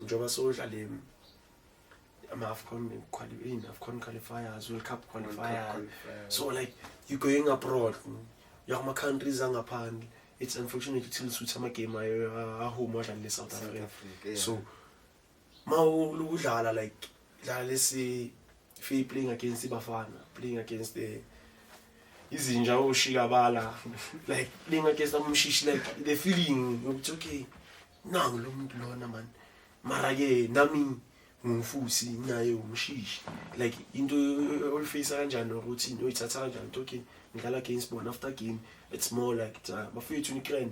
njengoba sodlale ama-afcon in afcon qualifiers world cup qualifiers so like you going abroad uya kuma-countries angaphandle it's unfortunate ukuthi lisuthi amagame ayo ahome adlale le-south africa so ma udlala like dlala lesi fee playing against ibafana playing against the eh, izinja oshikabala like playing against amshishi like the feeling yokuthi okay nangu lo muntu lona mani mara-ke nami ngumfusi naye umshishi like into olifeyisa kanjani nokuthi into oyithatha kanjani into okay ngidlala against bona after game it's more like uh, bafethu nikren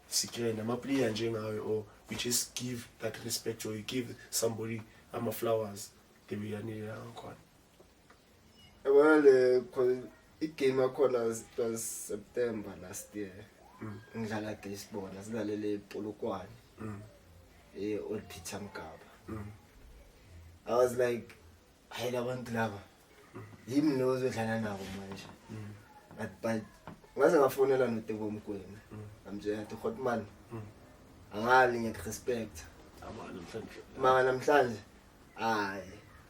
sikren amaplayer njengawe or we just give that respect or you give somebody ama-flowers ngebeyanile yakhona Wale igame yakhona was September last year. Mm. Ngidlala baseball, asidlalele iPolokwane. Mm. Eh old Peter Mgaba. Mm. I was like hayi labantu laba. Mm. Yimi lo ozodlala nabo manje. Mm. But but ngaze ngafonela noTebo Mkwena. Mm. I'm just to hot man. Mm. Angali ngiyakhrespect. Abana mhlanje. Mama namhlanje. Hayi.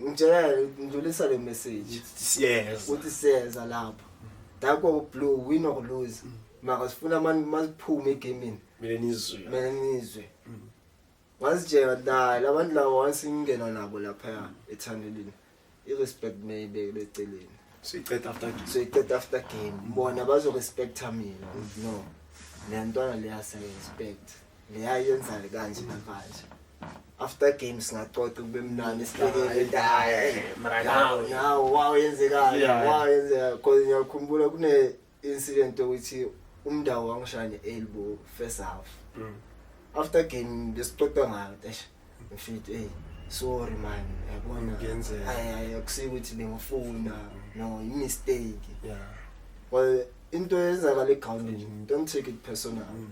ngitshela ngidlulisa le message siyeza ukuthi siyeza lapho dako blue win or lose mm. maka sifuna abantu masiphume egamini mina nizwe mina nizwe mm. ngazitshela dala abantu labo once ngingena nabo lapha ethandelini i respect mayibeke leceleni siyiqeda after game siyiqeda after game bona bazo respecta mina no lentwana leya siya respect mm. leya yenzani kanje namanje after game singacoca kube mnandi sibhekele ndaye mranawo nawo wawo yenzekani wawo yenzeka cause ngiyakhumbula kune incident ukuthi umndawo wangishaya elbow first half mm. after game besixoxa ngayo eish ngifit hey sorry man yabona hayi akusike ukuthi bengifuna no i mistake yeah well into eyenzakala egroundini don't take it personal mm.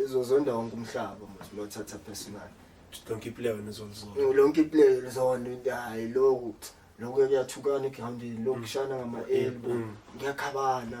izozonda wonke umhlaba mos lothatha personal lonke iplayer wena uzolizonda mm, lonke iplayer lizonda into hayi lokhu lokhu kuyathukana ekuhambeni lokhu kushana ngama-elbo mm, mm. ngiyakhabana